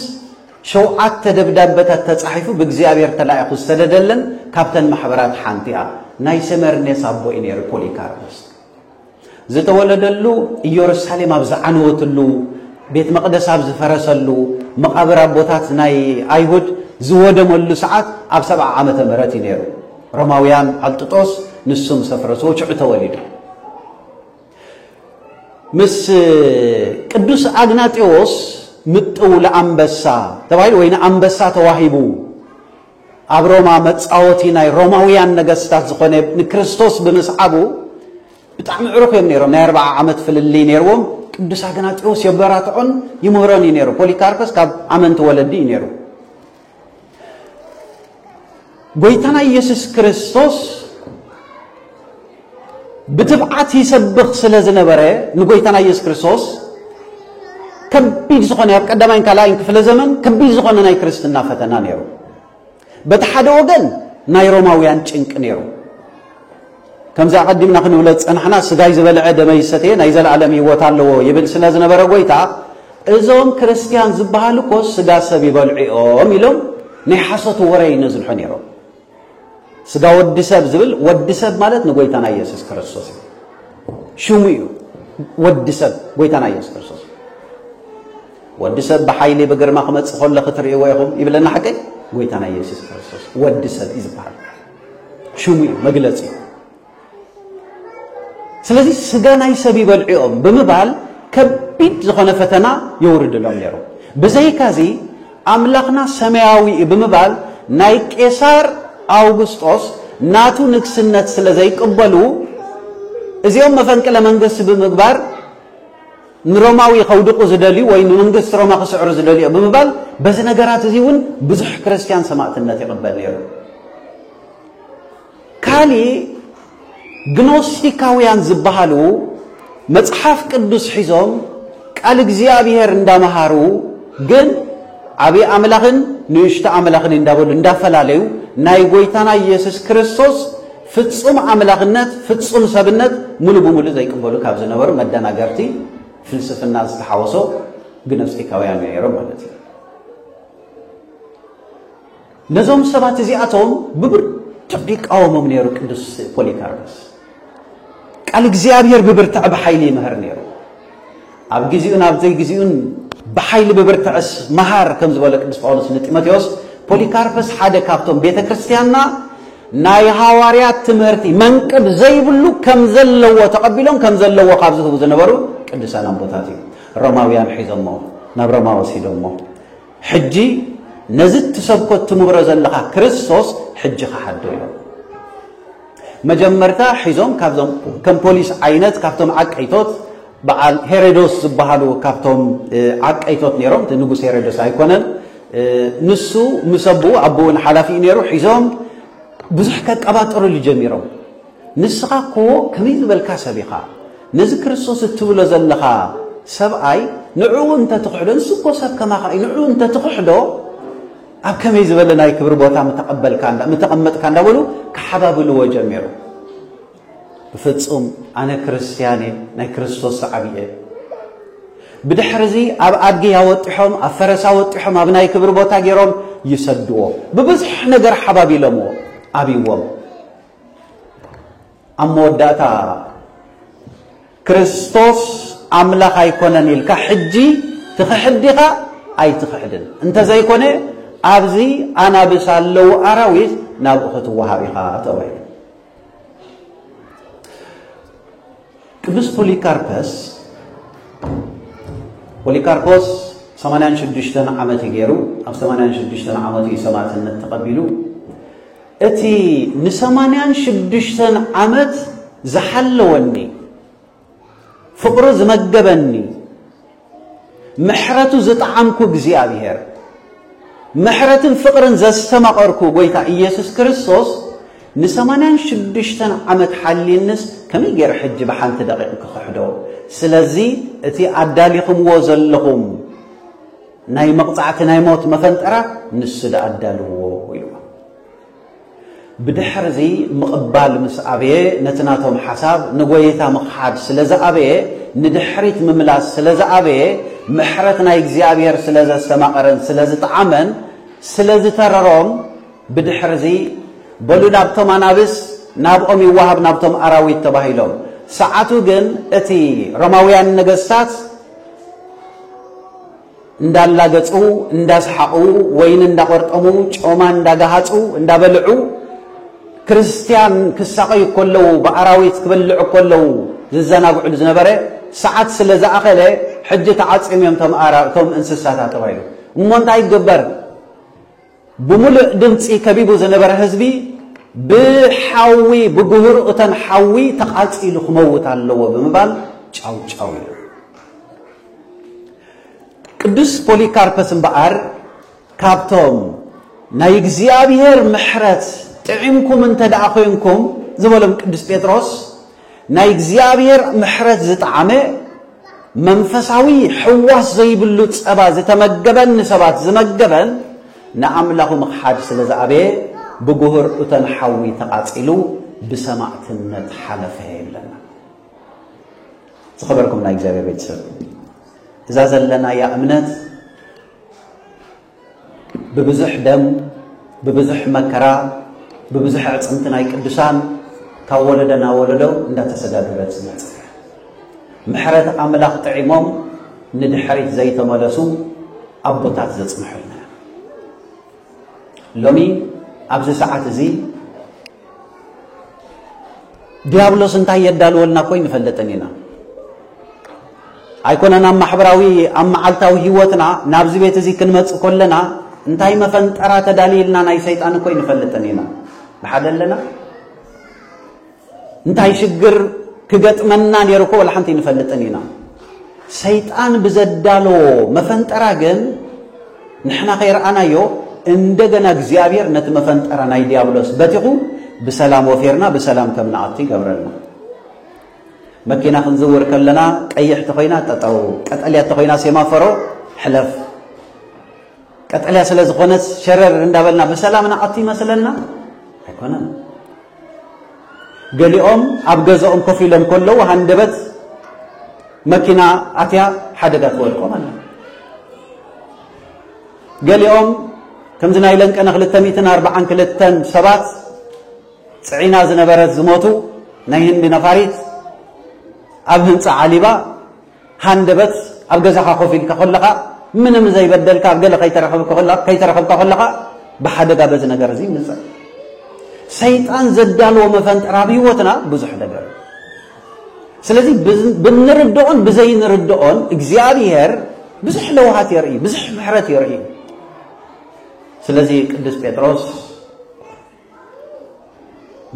ሸውዓተ ደብዳበታት ተጻሒፉ ብእግዚኣብሔር ተላኢኹ ዝሰደደለን ካብተን ማሕበራት ሓንቲኣ ናይ ሰመርኔስ ኣቦ እዩ ነይሩ ፖሊካርፖስ ዝተወለደሉ ኢየሩሳሌም ኣብ ዝዓነወትሉ ቤት መቕደስ ኣብ ዝፈረሰሉ መቓብር ኣቦታት ናይ ኣይሁድ ዝወደመሉ ሰዓት ኣብ ሰብዓ ዓመተ ምህረት እዩ ነይሩ ሮማውያን ኣብ ጥጦስ ንሱም ሰፍረስዎ ሽዑ ተወሊዱ ምስ ቅዱስ ኣግናጢዎስ ምጥው ለኣንበሳ ተባሂሉ ወይ ንኣንበሳ ተዋሂቡ ኣብ ሮማ መጻወቲ ናይ ሮማውያን ነገስታት ዝኾነ ንክርስቶስ ብምስዓቡ ብጣዕሚ ዕሩኽ እዮም ነይሮም ናይ ኣርባዓ ዓመት ፍልልይ ነይርዎም ቅዱስ ኣግናጢዎስ የበራትዖን ይምህሮን እዩ ነይሩ ፖሊካርፐስ ካብ ኣመንቲ ወለዲ እዩ ነይሩ ጎይታና ኢየሱስ ክርስቶስ ብትብዓት ይሰብኽ ስለ ዝነበረ ንጎይታና ኢየሱስ ክርስቶስ ከቢድ ዝኾነ ኣብ ቀዳማይን ካልኣይን ክፍለ ዘመን ከቢድ ዝኾነ ናይ ክርስትና ፈተና ነይሩ። በቲ ሓደ ወገን ናይ ሮማውያን ጭንቂ ነይሩ። ከምዚ ኣቐዲምና ክንብሎ ዝጸናሕና ስጋይ ዝበልዐ ደመይ ዝሰተየ ናይ ዘለኣለም ህይወት ኣለዎ ይብል ስለ ዝነበረ ጎይታ እዞም ክርስትያን ዝበሃሉ እኮ ስጋ ሰብ ይበልዑ እዮም ኢሎም ናይ ሓሶት ወረ ይነዝልሑ ነይሮም። ስጋ ወዲ ሰብ ዝብል ወዲ ሰብ ማለት ንጎይታና ኢየሱስ ክርስቶስ እዩ ሽሙ እዩ ወዲ ሰብ ጎይታና ኢየሱስ ክርስቶስ ወዲ ሰብ ብሓይሊ ብግርማ ክመጽእ ከሎ ክትርእይዎ ኢኹም ይብለና ሓቀይ ጎይታና ኢየሱስ ክርስቶስ ወዲ ሰብ እዩ ዝበሃል ሽሙ እዩ መግለፂ ስለዚ ስጋ ናይ ሰብ ይበልዕኦም ብምባል ከቢድ ዝኾነ ፈተና የውርድሎም ነይሩ ብዘይካዚ ኣምላኽና ሰማያዊ እዩ ብምባል ናይ ቄሳር ኣውግስጦስ ናቱ ንግስነት ስለ ዘይቅበሉ እዚኦም መፈንቅለ መንግስቲ ብምግባር ንሮማዊ ከውድቑ ዝደልዩ ወይ ንመንግስቲ ሮማ ክስዕሩ ዝደልዩ ብምባል በዚ ነገራት እዚ እውን ብዙሕ ክርስትያን ሰማእትነት ይቕበል ነይሩ። ካሊ ግኖስቲካውያን ዝበሃሉ መጽሓፍ ቅዱስ ሒዞም ቃል እግዚኣብሔር እንዳመሃሩ ግን ዓብዪ ኣምላኽን ንእሽቶ ኣምላኽን እንዳበሉ እንዳፈላለዩ ናይ ጎይታና ኢየሱስ ክርስቶስ ፍጹም ኣምላኽነት ፍጹም ሰብነት ምሉእ ብምሉእ ዘይቅበሉ ካብ ዝነበሩ መደናገርቲ ፍልስፍና ዝተሓወሶ ግኖስቲካውያን ነይሮም ማለት እዩ። ነዞም ሰባት እዚኣቶም ብብርቱዕ ይቃወሞም ነይሩ ቅዱስ ፖሊካርፐስ። ቃል እግዚኣብሔር ብብርትዕ ብሓይሊ ይምህር ነይሩ። ኣብ ጊዜኡን ኣብ ዘይጊዜኡን ብሓይሊ ብብርትዐስ መሃር ከም ዝበለ ቅዱስ ጳውሎስ ንጢሞቴዎስ ፖሊካርፐስ ሓደ ካብቶም ቤተ ክርስቲያንና ናይ ሃዋርያት ትምህርቲ መንቅብ ዘይብሉ ከም ዘለዎ ተቐቢሎም ከም ዘለዎ ካብ ዝህቡ ዝነበሩ ቅዱሳን ኣቦታት እዩ። ሮማውያን ሒዞሞ ናብ ሮማ ወሲዶሞ ሕጂ ነዚ እትሰብኮ እትምብሮ ዘለኻ ክርስቶስ ሕጂ ክሓዶ ኢሎም መጀመርታ ሒዞም ካብዞም ከም ፖሊስ ዓይነት ካብቶም ዓቀይቶት በዓል ሄሮዶስ ዝበሃሉ ካብቶም ዓቀይቶት ነይሮም እቲ ንጉስ ሄሮዶስ ኣይኮነን ንሱ ምስ ኣቦኡ ኣቦኡ ሓላፊ እዩ ነይሩ ሒዞም ብዙሕ ከቀባጥርሉ ጀሚሮም ንስኻ እኮ ከመይ ዝበልካ ሰብ ኢኻ ነዚ ክርስቶስ እትብሎ ዘለኻ ሰብኣይ ንዕኡ እንተ ትኽሕዶ ንሱ እኮ ሰብ ከማኻ እዩ ንዕኡ እንተ ትኽሕዶ ኣብ ከመይ ዝበለ ናይ ክብሪ ቦታ ምተቐበልካ እንዳ ምተቐመጥካ እንዳበሉ ክሓባብልዎ ጀሚሩ ብፍጹም ኣነ ክርስትያን እየ ናይ ክርስቶስ ሰዓቢ እየ ብድሕርዚ ኣብ ኣድጊ ኣወጢሖም ኣብ ፈረስ ኣወጢሖም ኣብ ናይ ክብሪ ቦታ ገይሮም ይሰድዎ ብብዙሕ ነገር ሓባቢሎምዎ ኣብዎም ኣብ መወዳእታ ክርስቶስ ኣምላኽ ኣይኮነን ኢልካ ሕጂ ትኽሕዲኻ ኣይትኽሕድን እንተዘይኮነ ኣብዚ ኣናብስ ኣለዉ ኣራዊት ናብኡ ክትወሃብ ኢኻ ተባሂሉ ቅዱስ ፖሊካርፐስ ፖሊካርፖስ ሰማንያን ሽዱሽተን ዓመት እዩ ገይሩ ኣብ ሰማንያን ሽዱሽተን ዓመቱ እዩ ሰማዕትነት ተቐቢሉ እቲ ንሰማንያን ሽዱሽተን ዓመት ዝሓለወኒ ፍቕሩ ዝመገበኒ ምሕረቱ ዝጠዓምኩ እግዚኣብሄር፣ ምሕረትን ፍቕርን ዘስተማቐርኩ ጐይታ ኢየሱስ ክርስቶስ ንሰማንያን ሽዱሽተን ዓመት ሓልዩንስ ከመይ ገይረ ሕጂ ብሓንቲ ደቂቕ ክኽሕዶ? ስለዚ እቲ ኣዳሊኹምዎ ዘለኹም ናይ መቕጻዕቲ ናይ ሞት መፈንጠራ ንሱ ደኣ ኣዳልዎ ኢልዎ። ብድሕርዚ ምቕባል ምስ ኣበየ፣ ነቲ ናቶም ሓሳብ ንጎይታ ምኽሓድ ስለ ዝኣበየ፣ ንድሕሪት ምምላስ ስለ ዝኣበየ፣ ምሕረት ናይ እግዚኣብሔር ስለ ዘስተማቐረን ስለ ዝጠዓመን፣ ስለ ዝተረሮም፣ ብድሕርዚ በሉ ናብቶም ኣናብስ ናብኦም ይወሃብ ናብቶም ኣራዊት ተባሂሎም። ሰዓቱ ግን እቲ ሮማውያን ነገስታት፣ እንዳላገጹ እንዳስሓቑ ወይኒ እንዳቆርጠሙ ጮማ እንዳጋሃጹ እንዳበልዑ ክርስትያን ክሳቐዩ ከለዉ ብኣራዊት ክበልዑ ከለዉ ዝዘናግዕሉ ዝነበረ ሰዓት ስለ ዝኣኸለ ሕጂ ተዓጽዮም እዮም እቶም እንስሳታት ተባሂሉ እሞ እንታይ ይገበር ብምሉእ ድምጺ ከቢቡ ዝነበረ ህዝቢ ብሓዊ ብጉህር እተን ሓዊ ተቓጺሉ ክመውት ኣለዎ ብምባል ጫው ጫው ኢሉ። ቅዱስ ፖሊካርፐስ እምበኣር ካብቶም ናይ እግዚኣብሔር ምሕረት ጥዒምኩም እንተ ደኣ ኮይንኩም ዝበሎም ቅዱስ ጴጥሮስ ናይ እግዚኣብሔር ምሕረት ዝጠዓመ መንፈሳዊ ሕዋስ ዘይብሉ ጸባ ዝተመገበን ንሰባት ዝመገበን ንኣምላኹ ምኽሓድ ስለ ዝኣበየ ብጉህር እቶን ሓዊ ተቓጺሉ ብሰማዕትነት ሓለፈ ይብለና። ዝኸበርኩም ናይ እግዚኣብሔር ቤተሰብ እዛ ዘለናያ እምነት ብብዙሕ ደም ብብዙሕ መከራ ብብዙሕ ኣዕፅምቲ ናይ ቅዱሳን ካብ ወለዶ ናብ ወለዶ እንዳተሰጋገረት ዝመፀ ምሕረት ኣምላኽ ጥዒሞም ንድሕሪት ዘይተመለሱ ኣቦታት ዘፅንሑልና ሎሚ ኣብዚ ሰዓት እዚ ዲያብሎስ እንታይ የዳልወልና እኮ ይንፈልጥን ኢና ኣይኮነን ኣብ ማሕበራዊ ኣብ መዓልታዊ ህይወትና ናብዚ ቤት እዚ ክንመፅእ ከለና እንታይ መፈንጠራ ተዳልይልና ናይ ሰይጣን እኮ ይንፈልጥን ኢና ብሓደ ኣለና እንታይ ሽግር ክገጥመና ነይሩ እኮ ወላ ሓንቲ ይንፈልጥን ኢና ሰይጣን ብዘዳለዎ መፈንጠራ ግን ንሕና ከይረኣናዮ እንደገና እግዚኣብሔር ነቲ መፈንጠራ ናይ ዲያብሎስ በቲኹ ብሰላም ወፊርና ብሰላም ከም ንኣቱ ይገብረልና። መኪና ክንዝውር ከለና ቀይሕ ተኾይና ጠጠው፣ ቀጠልያ ተኾይና ሴማፈሮ ሕለፍ። ቀጠልያ ስለ ዝኾነስ ሸረር እንዳበልና ብሰላም ንኣቱ ይመስለና ኣይኮነን። ገሊኦም ኣብ ገዛኦም ኮፍ ኢሎም ከለዉ ሃንደበት መኪና ኣትያ ሓደጋ ተወድቆም ኣላ። ገሊኦም ከምዚ ናይ ለንቀነ 242 ሰባት ፅዒና ዝነበረት ዝሞቱ ናይ ህንዲ ነፋሪት ኣብ ህንፃ ዓሊባ ሃንደበት ኣብ ገዛኻ ኮፍ ኢልካ ከለኻ ምንም ዘይበደልካ ኣብ ገለ ከይተረኸብካ ከለኻ ብሓደጋ በዚ ነገር እዚ ይምፀእ ሰይጣን ዘዳለዎ መፈንጠር ኣብ ህይወትና ብዙሕ ነገር እዩ ስለዚ ብንርድኦን ብዘይንርድኦን እግዚኣብሔር ብዙሕ ለውሃት የርኢ ብዙሕ ምሕረት የርኢ ስለዚ ቅዱስ ጴጥሮስ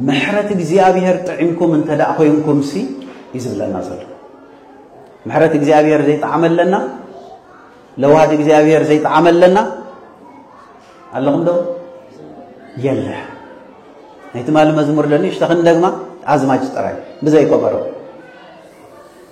ምሕረት እግዚኣብሔር ጥዒምኩም እንተ ደኣ ኮንኩምሲ እዩ ዝብለና ዘሎ ምሕረት እግዚኣብሔር ዘይጠዓመለና ለዋሃት እግዚኣብሔር ዘይጠዓመለና ኣለኹም ዶ የለ ናይ ትማሊ መዝሙር ለኒ ሽተኽን ደግማ ኣዝማጅ ጥራይ ብዘይ ከበሮ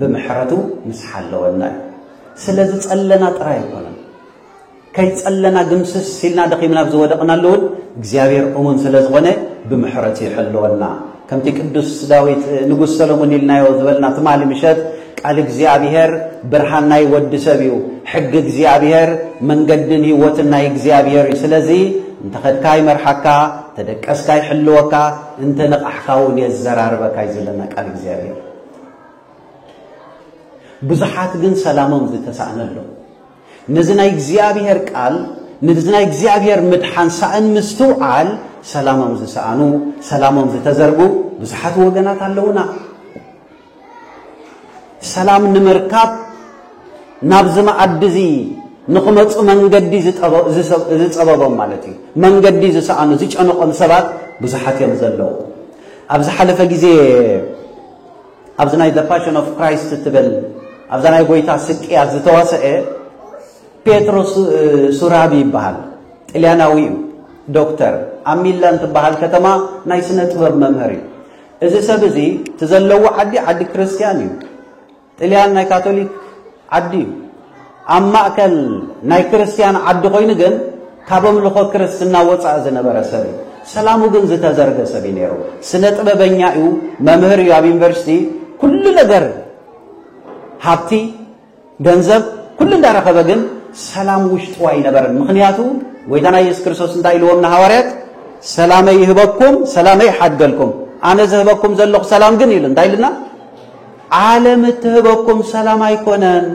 ብምሕረቱ ምስ ሓለወና እዩ ስለ ዝጸለና ጥራይ ኣይኮነን ከይጸለና ግምስስ ሲልና ደኺምና ኣብ ዝወደቕናሉ እውን እግዚኣብሔር እሙን ስለ ዝኾነ ብምሕረቱ ይሕልወና ከምቲ ቅዱስ ዳዊት ንጉስ ሰሎሞን ኢልናዮ ዝበልና ትማሊ ምሸት ቃል እግዚኣብሔር ብርሃን ናይ ወዲ ሰብ እዩ ሕጊ እግዚኣብሔር መንገድን ህይወትን ናይ እግዚኣብሔር እዩ ስለዚ እንተኸድካ ይመርሓካ ተደቀስካ ይሕልወካ እንተ ነቓሕካ እውን የዘራርበካ እዩ ዘለና ቃል እግዚኣብሔር ብዙሓት ግን ሰላሞም ዝተሳእነ ኣሎ ነዚ ናይ እግዚኣብሔር ቃል ነዚ ናይ እግዚኣብሔር ምድሓን ሳእን ምስትውዓል ሰላሞም ዝሰኣኑ ሰላሞም ዝተዘርጉ ብዙሓት ወገናት ኣለውና ሰላም ንምርካብ ናብዚ መኣዲ እዚ ንኽመፁ መንገዲ ዝፀበቦም ማለት እዩ መንገዲ ዝሰኣኑ ዝጨነቖም ሰባት ብዙሓት እዮም ዘለዉ ኣብ ዝሓለፈ ግዜ ኣብዚ ናይ ዘ ፓሽን ኦፍ ክራይስት እትብል ኣብዛ ናይ ጎይታ ስቅያት ዝተዋሰአ ፔትሮ ሱራቢ ይበሃል ጥልያናዊ እዩ ዶክተር ኣብ ሚላን ትበሃል ከተማ ናይ ስነ ጥበብ መምህር እዩ እዚ ሰብ እዚ እቲ ዘለዎ ዓዲ ዓዲ ክርስትያን እዩ ጥልያን ናይ ካቶሊክ ዓዲ እዩ። ኣብ ማእከል ናይ ክርስትያን ዓዲ ኮይኑ ግን ካብ ኣምልኾ ክርስትና ወጻኢ ዝነበረ ሰብ እዩ። ሰላሙ ግን ዝተዘርገ ሰብ እዩ ነይሩ። ስነ ጥበበኛ እዩ፣ መምህር እዩ። ኣብ ዩኒቨርሲቲ ኩሉ ነገር ሃብቲ፣ ገንዘብ ኩሉ እንዳረኸበ ግን ሰላም ውሽጡ ኣይነበረን። ምክንያቱ ጎይታና ኢየሱስ ክርስቶስ እንታይ ኢልዎም ንሃዋርያት ሰላመይ ይህበኩም ሰላመይ ይሓድገልኩም ኣነ ዝህበኩም ዘለኹ ሰላም ግን ኢሉ እንታይ ኢልና ዓለም እትህበኩም ሰላም ኣይኮነን።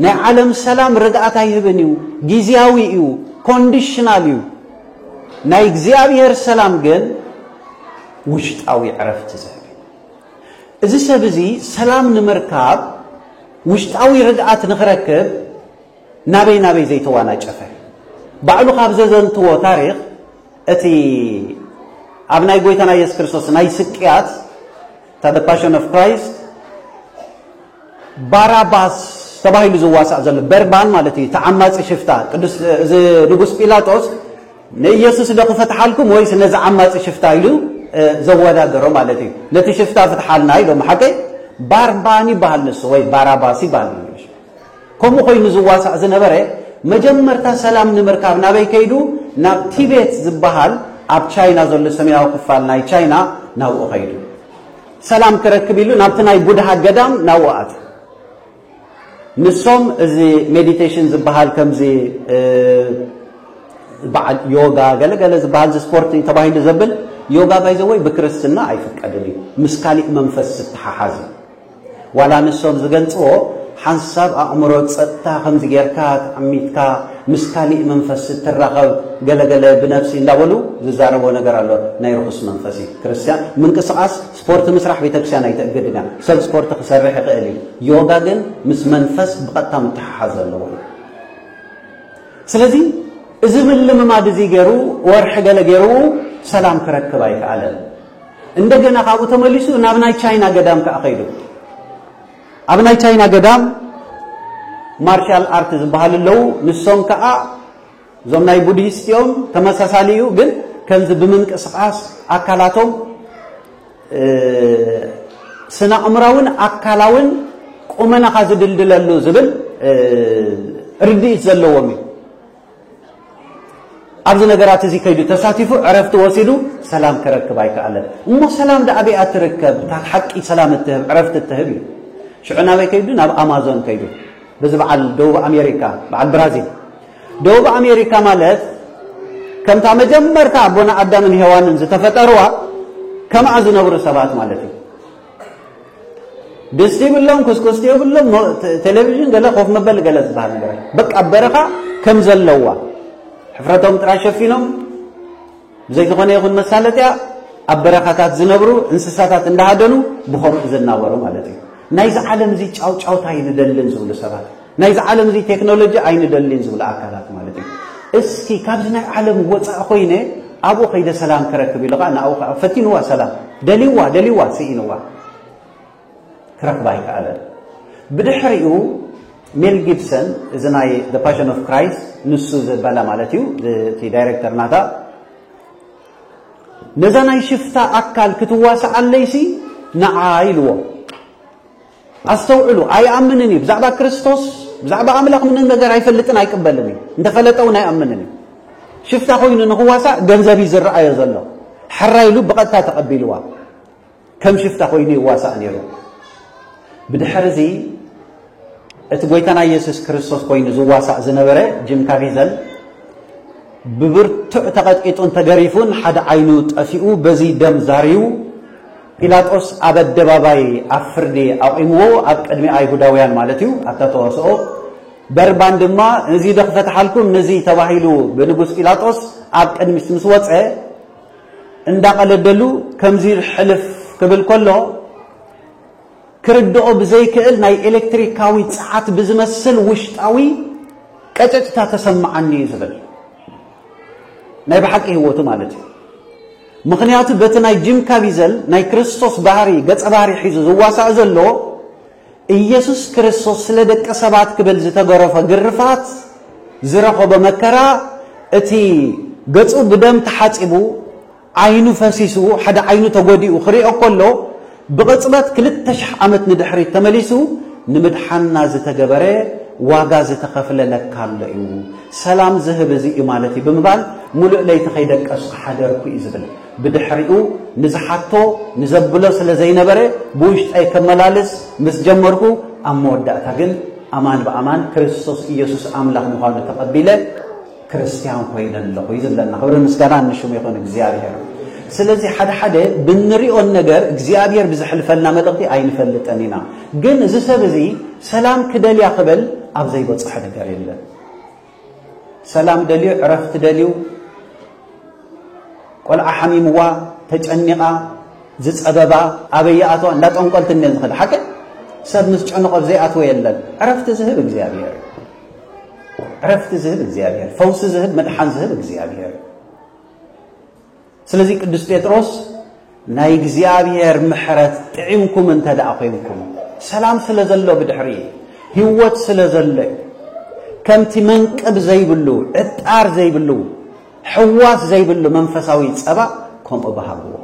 ናይ ዓለም ሰላም ርግኣት ኣይህብን እዩ፣ ጊዜያዊ እዩ፣ ኮንዲሽናል እዩ። ናይ እግዚኣብሔር ሰላም ግን ውሽጣዊ ዕረፍቲ ዝህብ እዩ። እዚ ሰብ እዚ ሰላም ንምርካብ ውሽጣዊ ርግኣት ንኽረክብ ናበይ ናበይ ዘይተዋናጨፈ ባዕሉ ካብ ዘዘንትዎ ታሪኽ እቲ ኣብ ናይ ጎይታና ኢየሱስ ክርስቶስ ናይ ስቅያት እታ The Passion of Christ ባራባስ ተባሂሉ ዝዋሳእ ዘሎ በርባን ማለት እዩ ተዓማፂ ሽፍታ ቅዱስ እዚ ንጉስ ጲላጦስ ንኢየሱስ ዶ ክፈትሓልኩም ወይስ ነዚ ዓማፂ ሽፍታ ኢሉ ዘወዳደሮ ማለት እዩ ነቲ ሽፍታ ፍትሓልና ኢሎም ሓቀይ ባርባን ይበሃል ንሱ ወይ ባራባስ ይበሃል ከምኡ ኮይኑ ዝዋሳእ ዝነበረ መጀመርታ ሰላም ንምርካብ ናበይ ከይዱ ናብ ቲቤት ዝበሃል ኣብ ቻይና ዘሎ ሰሜናዊ ክፋል ናይ ቻይና ናብኡ ከይዱ ሰላም ክረክብ ኢሉ ናብቲ ናይ ቡድሃ ገዳም ናብኡ ኣትዩ ንሶም እዚ ሜዲቴሽን ዝበሃል ከምዚ በዓል ዮጋ ገለገለ ዝበሃል ስፖርት ተባሂሉ ዘብል ዮጋ ባይዘወይ ብክርስትና ኣይፍቀድን እዩ ምስ ካሊእ መንፈስ ዝተሓሓዝ እዩ ዋላ ንሶም ዝገልጽዎ ሓንሳብ ኣእምሮ ጸጥታ ከምዚ ጌርካ ተዓሚትካ ምስ ካሊእ መንፈስ እትራኸብ ገለ ገለ ብነብሲ እንዳበሉ ዝዛረብዎ ነገር ኣሎ ናይ ርኹስ መንፈስ እዩ ክርስትያን ምንቅስቓስ ስፖርት ምስራሕ ቤተክርስቲያን ኣይተእግድን እያ ሰብ ስፖርት ክሰርሕ ይኽእል እዩ ዮጋ ግን ምስ መንፈስ ብቐጥታ ምትሓሓዝ ዘለዎ እዩ ስለዚ እዚ ምልምማድ እዚ ገይሩ ወርሒ ገለ ገይሩ ሰላም ክረክብ ኣይከኣለን እንደገና ካብኡ ተመሊሱ ናብ ናይ ቻይና ገዳም ከዓ ከይዱ ኣብ ናይ ቻይና ገዳም ማርሻል ኣርት ዝበሃሉ ኣለዉ ንሶም ከዓ እዞም ናይ ቡድሂስት እዮም ተመሳሳሊ እዩ ግን ከምዚ ብምንቅስቃስ ኣካላቶም ስነ ኣእምራውን ኣካላውን ቁመናኻ ዝድልድለሉ ዝብል ርድኢት ዘለዎም እዩ ኣብዚ ነገራት እዚ ከይዱ ተሳቲፉ ዕረፍቲ ወሲዱ ሰላም ክረክብ ኣይከኣለን እሞ ሰላም ዳኣ ኣበይኣ ትርከብ እታ ሓቂ ሰላም እትህብ ዕረፍቲ እትህብ እዩ ሽዑ ናበይ ከይዱ ናብ ኣማዞን ከይዱ በዚ በዓል ደቡብ ኣሜሪካ በዓል ብራዚል ደቡብ ኣሜሪካ ማለት ከምታ መጀመርታ ኣቦና ኣዳምን ሄዋንን ዝተፈጠርዋ ከምኣ ዝነብሩ ሰባት ማለት እዩ ድስቲ የብሎም፣ ኩስኩስቲ የብሎም፣ ቴሌቪዥን ገለ ኮፍ መበሊ ገለ ዝበሃል ነገር በቃ ኣብ በረኻ ከም ዘለዋ ሕፍረቶም ጥራይ ሸፊኖም ብዘይ ዝኾነ ይኹን መሳለጥያ ኣብ በረኻታት ዝነብሩ እንስሳታት እንዳሃደኑ ብኸምኡ ዝናበሩ ማለት እዩ። ናይዚ ዓለም እዚ ጫውጫውታ ይንደልን ዝብሉ ሰባት ናይዚ ዓለም እዚ ቴክኖሎጂ ኣይንደሊን ዝብሉ ኣካላት ማለት እዩ። እስኪ ካብዚ ናይ ዓለም ወፃእ ኮይነ ኣብኡ ከይደ ሰላም ክረክብ ኢሉ ከዓ ንኣኡ ከዓ ፈቲንዋ ሰላም ደልዋ ደልዋ ስኢንዋ ክረክባ ኣይከኣለን። ብድሕሪኡ ሜል ጊብሰን እዚ ናይ ዘ ፓሽን ኦፍ ክራይስት ንሱ ዘበለ ማለት እዩ እቲ ዳይሬክተር ናታ ነዛ ናይ ሽፍታ ኣካል ክትዋስዓለይሲ ንዓ ኢልዎ ኣስተውዕሉ፣ ኣይኣምንን እዩ። ብዛዕባ ክርስቶስ፣ ብዛዕባ ኣምላኽ ምንም ነገር ኣይፈልጥን ኣይቅበልን እዩ። እንተፈለጠ እውን ኣይኣምንን እዩ። ሽፍታ ኮይኑ ንኽዋሳእ ገንዘብ እዩ ዝረኣዮ ዘሎ። ሕራይ ኢሉ ብቐጥታ ተቐቢልዋ ከም ሽፍታ ኮይኑ ይዋሳእ ነይሩ። ብድሕርዚ እቲ ጎይታና ኢየሱስ ክርስቶስ ኮይኑ ዝዋሳእ ዝነበረ ጅም ካቪዘል ብብርቱዕ ተቐጥቂጡን ተገሪፉን ሓደ ዓይኑ ጠፊኡ በዚ ደም ዛርዩ ጲላጦስ ኣብ ኣደባባይ ኣብ ፍርዲ ኣቝምዎ፣ ኣብ ቅድሚ ኣይሁዳውያን ማለት እዩ፣ ኣብታ ተዋስኦ። በርባን ድማ እዚዶ ክፈትሓልኩም ንዚ ተባሂሉ ብንጉስ ጲላጦስ ኣብ ቅድሚት ምስ ወጸ፣ እንዳቐለደሉ ከምዚ ኢሉ ሕልፍ ክብል ከሎ፣ ክርድኦ ብዘይክእል ናይ ኤለክትሪካዊ ጸዓት ብዝመስል ውሽጣዊ ቀጨጭታ ተሰምዓኒ እዩ ዝብል። ናይ ብሓቂ ህይወቱ ማለት እዩ። ምኽንያቱ በቲ ናይ ጂም ካቪዘል ናይ ክርስቶስ ባህሪ ገጸ ባህሪ ሒዙ ዝዋሳእ ዘሎ ኢየሱስ ክርስቶስ ስለ ደቂ ሰባት ክብል ዝተገረፎ ግርፋት ዝረኸቦ መከራ እቲ ገጹ ብደም ተሓጺቡ ዓይኑ ፈሲሱ ሓደ ዓይኑ ተጎዲኡ ክሪኦ ከሎ ብቕጽበት ክልተ ሽሕ ዓመት ንድሕሪት ተመሊሱ ንምድሓንና ዝተገበረ ዋጋ ዝተኸፍለ ለካ ኣሎ እዩ፣ ሰላም ዝህብ እዚ እዩ ማለት እዩ ብምባል ምሉእ ለይቲ ከይደቀስኩ ሓደርኩ እዩ ዝብል። ብድሕሪኡ ንዝሓቶ ንዘብሎ ስለ ዘይነበረ ብውሽጠይ ከመላልስ ምስ ጀመርኩ ኣብ መወዳእታ ግን ኣማን ብኣማን ክርስቶስ ኢየሱስ ኣምላኽ ምዃኑ ተቐቢለ ክርስትያን ኮይነ ኣለኹ እዩ ዝብለና። ክብርን ምስጋናን ንሽሙ ይኹን እግዚኣብሔር። ስለዚ ሓደ ሓደ ብንሪኦን ነገር እግዚኣብሔር ብዝሕልፈልና መልእኽቲ ኣይንፈልጥን ኢና። ግን እዚ ሰብ እዚ ሰላም ክደልያ ክበል ኣብ ዘይበፅሖ ነገር የለን። ሰላም ደልዩ፣ ዕረፍቲ ደልዩ፣ ቆልዓ ሓሚምዋ ተጨኒቓ ዝፀበባ ኣበይ ይኣትዋ እንዳ ጠንቆልቲ እኒአን ዝኸዳ ሓቂ ሰብ ምስ ጨንቖ ዘይኣትወ የለን። ዕረፍቲ ዝህብ እግዚኣብሔር ዕረፍቲ ዝህብ እግዚኣብሔር፣ ፈውሲ ዝህብ መድሓን ዝህብ እግዚኣብሔር። ስለዚ ቅዱስ ጴጥሮስ ናይ እግዚኣብሔር ምሕረት ጥዒምኩም እንተ ደኣ ኮንኩም ሰላም ስለ ዘሎ ብድሕሪ ህይወት ስለ ዘሎ ከምቲ መንቅብ ዘይብሉ ዕጣር ዘይብሉ ሕዋስ ዘይብሉ መንፈሳዊ ጸባ ከምኡ በሃግዎ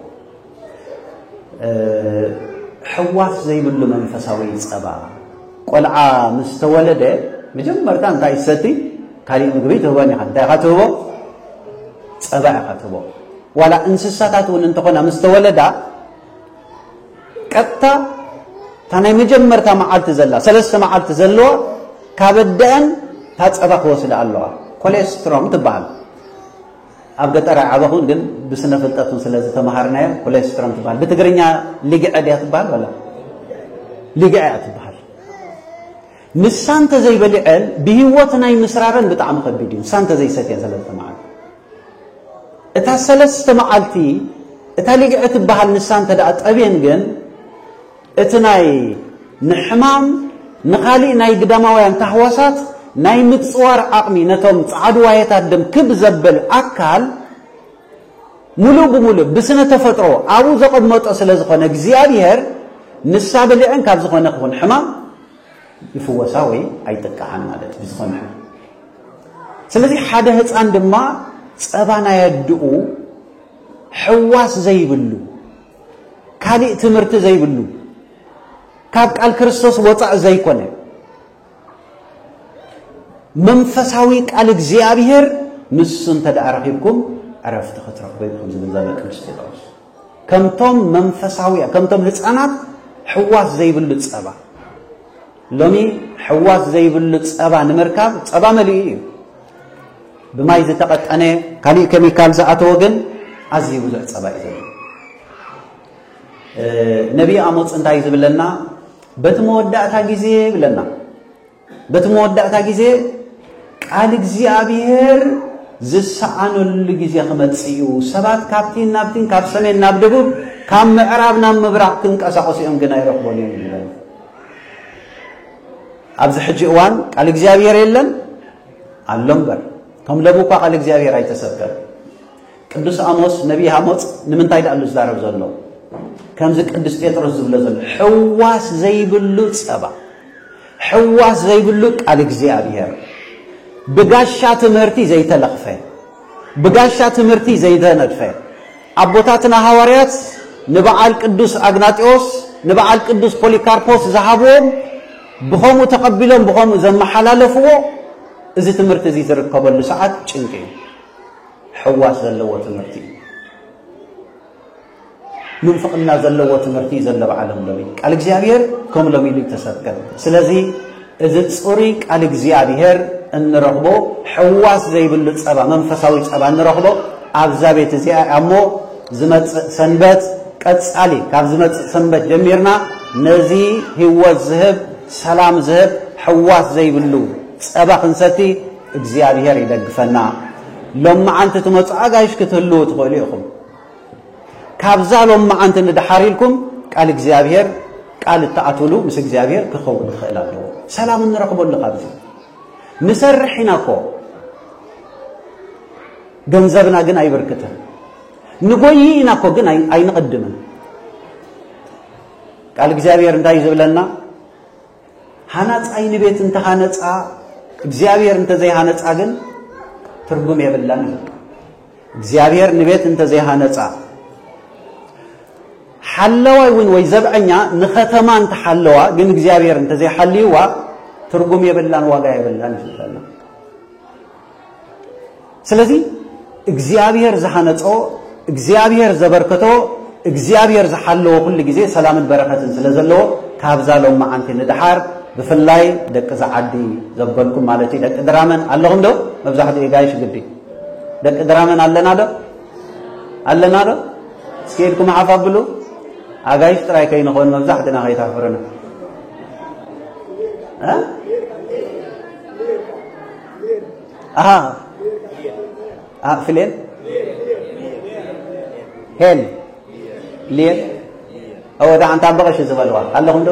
ሕዋስ ዘይብሉ መንፈሳዊ ጸባ ቆልዓ ምስ ተወለደ መጀመርታ እንታይ ሰቲ ካሊእ ምግቢ ትህቦን ኢኻ እንታይ ኢኻ ትህቦ ጸባ ኢኻ ትህቦ ዋላ እንስሳታት እውን እንተኾና ምስ ተወለዳ ቀጥታ እታ ናይ መጀመርታ መዓልቲ ዘላ ሰለስተ መዓልቲ ዘለዋ ካብ ኣደአን እታ ጸባ ክወስዳ ኣለዋ ኮሌስትሮም ትበሃል ኣብ ገጠር ኣይዓበኹን ግን ብስነ ፍልጠት ውን ስለ ዝተመሃርናዮ ኮሌስትሮም ትበሃል። ብትግርኛ ሊግዐ ድያ ትበሃል ወላ ሊግዐ እያ ትበሃል። ንሳ እንተዘይበሊዐን ብሂወት ናይ ምስራረን ብጣዕሚ ከቢድ እዩ። ንሳ እንተዘይሰትየን ስለ ዝተመሃር እታ ሰለስተ መዓልቲ እታ ሊግዐ ትበሃል ንሳ እንተ ጠብየን ግን እቲ ናይ ንሕማም ንኻሊእ ናይ ግዳማውያን ታህዋሳት ናይ ምጽዋር ዓቕሚ ነቶም ጸዓዱ ዋሄታት ደም ክብ ዘብል ኣካል ሙሉእ ብሙሉእ ብስነ ተፈጥሮ ኣብኡ ዘቐመጦ ስለ ዝኾነ እግዚኣብሔር ንሳ ብልዕን ካብ ዝኾነ ክኹን ሕማም ይፍወሳ ወይ ኣይጥቅዓን ማለት እዩ ዝኾነ ሕማም ስለዚ ሓደ ህፃን ድማ ፀባ ናይ ኣድኡ ሕዋስ ዘይብሉ ካሊእ ትምህርቲ ዘይብሉ ካብ ቃል ክርስቶስ ወፃእ ዘይኮነ መንፈሳዊ ቃል እግዚኣብሔር ንሱ እንተ ደኣ ረኺብኩም ዕረፍቲ ክትረኽቡ ኢኹም ዝብል ዘሎ ቅዱስ ጴጥሮስ ከምቶም መንፈሳዊ ከምቶም ህፃናት ሕዋስ ዘይብሉ ፀባ ሎሚ ሕዋስ ዘይብሉ ፀባ ንምርካብ ፀባ መሊኡ እዩ ብማይ ዝተቐጠነ ካሊእ ከሚካል ዝኣተወ ግን ኣዝዩ ብዙሕ ፀባ እዩ ዘሎ። ነቢይ ኣሞፅ እንታይ እዩ ዝብለና? በቲ መወዳእታ ግዜ ይብለና። በቲ መወዳእታ ግዜ ቃል እግዚኣብሔር ዝሰኣነሉ ግዜ ክመፅእ እዩ። ሰባት ካብቲን ናብቲን ካብ ሰሜን ናብ ደቡብ ካብ ምዕራብ ናብ ምብራቕ ክንቀሳቐሱ እዮም ግን ኣይረኽቦን እዮም ይብለን። ኣብዚ ሕጂ እዋን ቃል እግዚኣብሔር የለን ኣሎ እምበር ከም ለቡ እኳ ቃል እግዚኣብሔር ኣይተሰብከን ቅዱስ ኣሞስ ነቢይ ኣሞፅ ንምንታይ ዳኣሉ ዝዛረብ ዘሎ ከምዚ ቅዱስ ጴጥሮስ ዝብሎ ዘሎ ሕዋስ ዘይብሉ ፀባ ሕዋስ ዘይብሉ ቃል እግዚኣብሔር ብጋሻ ትምህርቲ ዘይተለኽፈ ብጋሻ ትምህርቲ ዘይተነድፈ ኣቦታትና ሃዋርያት ንበዓል ቅዱስ ኣግናጢዎስ ንበዓል ቅዱስ ፖሊካርፖስ ዝሃብዎም ብኸምኡ ተቐቢሎም ብኸምኡ ዘመሓላለፍዎ እዚ ትምህርቲ እዚ ዝርከበሉ ሰዓት ጭንቂ እዩ። ሕዋስ ዘለዎ ትምህርቲ እዩ። ምንፍቕና ዘለዎ ትምህርቲ እዩ ዘሎ በዓሎም ሎሚ ቃል እግዚኣብሔር ከም ሎሚ ኢሉ ተሰብከን። ስለዚ እዚ ፅሩይ ቃል እግዚኣብሔር እንረኽቦ ሕዋስ ዘይብሉ ፀባ መንፈሳዊ ፀባ እንረኽቦ ኣብዛ ቤት እዚኣ እሞ ዝመጽእ ሰንበት ቀጻሊ ካብ ዝመጽእ ሰንበት ጀሚርና ነዚ ህይወት ዝህብ ሰላም ዝህብ ሕዋስ ዘይብሉ ጸባ ክንሰቲ እግዚኣብሄር ይደግፈና። ሎማዓንቲ ትመጹ ኣጋይሽ ክትህልዉ ትኽእሉ ኢኹም። ካብዛ ሎማዓንቲ ንድሓር ኢልኩም ቃል እግዚኣብሄር ቃል እትኣትሉ ምስ እግዚኣብሄር ክኸውን ክኽእል ኣለዎ። ሰላም እንረኽበሉ ካብዚ ንሰርሕ ኢና እኮ ገንዘብና ግን ኣይብርክትን። ንጎይ ኢና እኮ ግን ኣይንቕድምን። ቃል እግዚኣብሔር እንታይ ዝብለና ሃናፃይ ንቤት እንተሃነፃ እግዚኣብሔር እንተዘይሃነፃ ግን ትርጉም የብላን እዩ እግዚኣብሔር ንቤት እንተዘይሃነፃ ሓለዋይ እውን ወይ ዘብዐኛ ንኸተማ እንተሓለዋ ግን እግዚኣብሔር እንተዘይሓልይዋ ትርጉም የብላን ዋጋ የብላን እዩ ዝብለና ስለዚ እግዚኣብሔር ዝሃነጾ እግዚኣብሔር ዘበርከቶ እግዚኣብሔር ዝሓለዎ ኩሉ ግዜ ሰላምን በረከትን ስለ ዘለዎ ካብዛ ሎም መዓንቲ ንድሓር ብፍላይ ደቂ ዝዓዲ ዘበልኩም ማለት እዩ ደቂ ድራመን ኣለኹም ዶ መብዛሕትኡ ጋይሽ ግዲ ደቂ ድራመን ኣለና ዶ ኣለና ዶ እስኪ ኢድኩም ሓፍ ኣብሉ ኣጋይሽ ጥራይ ከይንኾን መብዛሕትና ከይተሕፍርና ኣሃ ኣ ፍሌን ሄል ሊየን እወ ዳዓ እንታ በቐሽ ዝበልዋ ኣለኹም ዶ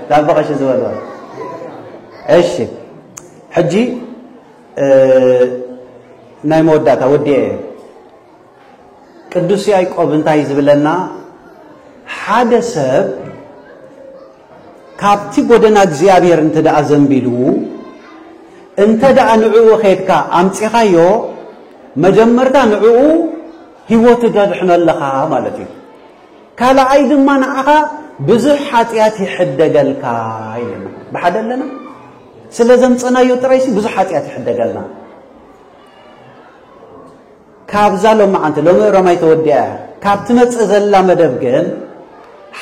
እንታ በቐሽ ዝበልዋ እሺ ሕጂ ናይ መወዳእታ ወዲኤ እየ ቅዱስ ያዕቆብ እንታይ ዝብለና ሓደ ሰብ ካብቲ ጎደና እግዚኣብሔር እንተ ደኣ ዘንቢሉ እንተ ደኣ ንዕኡ ኼድካ ኣምጺኻዮ መጀመርታ ንዕኡ ህይወቱ ተድሕኖ ኣለኻ ማለት እዩ። ካልኣይ ድማ ንዓኻ ብዙሕ ሓጢኣት ይሕደገልካ ኢለና ብሓደ ኣለና ስለ ዘምፀናዮ ጥራይሲ ብዙሕ ሓጢኣት ይሕደገልና ካብዛ ሎማዓንቲ ሎሚ እሮማይ ተወዲኣ እያ ካብ ትመጽእ ዘላ መደብ ግን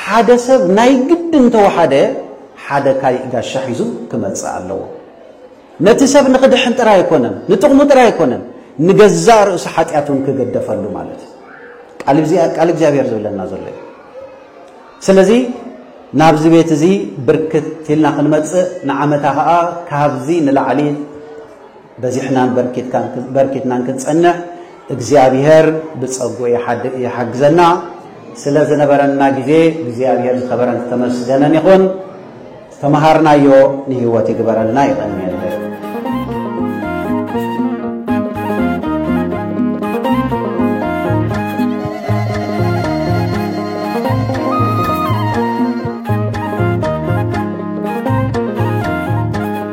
ሓደ ሰብ ናይ ግድን እንተወሓደ ሓደ ካሊእ ጋሻ ሒዙ ክመጽእ ኣለዎ። ነቲ ሰብ ንኽድሕን ጥራይ ኣይኮነን ንጥቕሙ ጥራይ ኣይኮነን ንገዛእ ርእሱ ሓጢኣት እውን ክገደፈሉ ማለት ቃል እግዚኣብሔር ዝብለና ዘሎ እዩ ስለዚ ናብዚ ቤት እዚ ብርክት ኢልና ክንመፅእ ንዓመታ ከዓ ካብዚ ንላዕሊ በዚሕናን በርኪትናን ክንጸንዕ እግዚኣብሔር ብጸጉ ይሓግዘና። ስለ ዝነበረና ግዜ እግዚኣብሔር ዝኸበረን ዝተመስገነን ይኹን። ዝተመሃርናዮ ንህይወት ይግበረልና። ይቐንየልና።